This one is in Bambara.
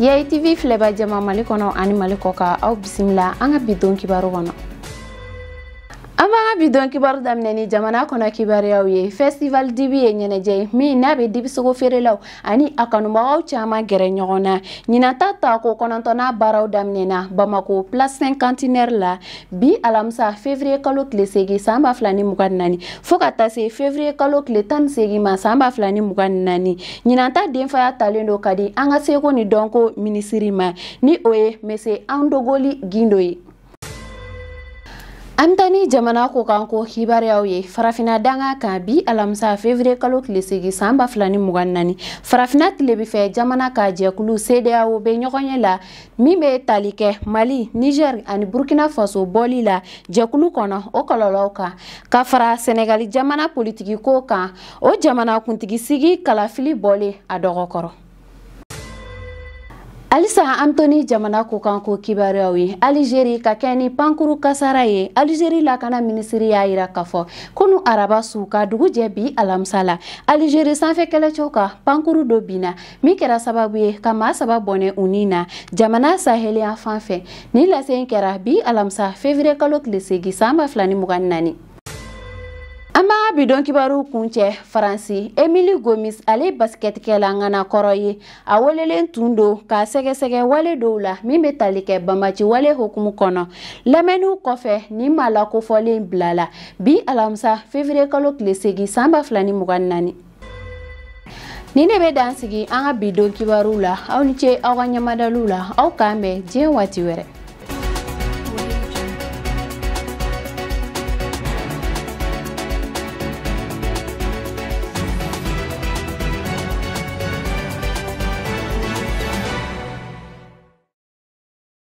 yayi tv filɛba jama mali kɔnɔ ani mali kɔkan aw bisimila an ka bi don kibaru kɔnɔ an b'an ka bi don kibaru daminɛ ni jamana kɔnɔ kibaruyaw ye festival dibi ye ɲɛnajɛ ye min n'a bɛ dibisogo feerelaw ani a kanubagaw caman gɛrɛ ɲɔgɔn na ɲinan ta taako kɔnɔntɔnnan baaraw daminɛna bamako place cinquantenaire la bi alamisa fevriye kalo tile segi san ba fila ni mugan ni naani fo ka taa se fevriye kalo tile tan ni segi ma san ba fila ni mugan ni naani ɲinan ta denfaya talen don ka di an ka seko ni dɔnko minisiri ma ni o ye monsieur andogoly guindo ye an bɛ taa ni jamana kɔkanko kibaruyaw ye farafina danga kan bi alamisa fevriye kalo tile segi san ba fila ni mugan naani farafina tilebinfɛ jamanaw ka jɛkulu cedeao bɛ ɲɔgɔnye la min bɛ tali kɛ mali niger ani burkina faso bɔli la jɛkulu kɔnɔ o kɔlɔlɔw kan ka fara senegali jamana politikiko kan o jamana kuntigisigi kalafili bɔlen a dɔgɔkɔrɔ halisa an to ni jamana kɔkanko kibaruyaw ye alizeri ka kɛɲɛ ni pankuru kasaara ye alizeri lakana minisiri y'a yira k'a fɔ kunu araba su ka dugu jɛ bi alamisa la alizeri sanfɛ kɛlɛcɛw ka pankuru dɔ binna min kɛra sababu ye ka maa saba bɔnɛ u ni na jamana saheli yanfan fɛ nin lase in kɛra bi alamisa fevriye kalo tile segi san ba fila ni mugan ni naani an b'an ka bi don kibaru kuncɛ faransi emilie gomis ale basikɛtikɛla ŋana kɔrɔ ye a welelen tun don k'a sɛgɛsɛgɛ wale dɔw la min bɛ tali kɛ banbaanci wale hokumu kɔnɔ lamɛnniw kɔfɛ nin maa lakofɔlen bilala bi alamisa fevriye kalo tile segi san ba fila ni mugan ni naani Nin ne bɛ dan sigi an ka bi don kibaru la aw ni ce aw ka ɲamadaliw la aw k'an bɛn diɲɛ waati wɛrɛ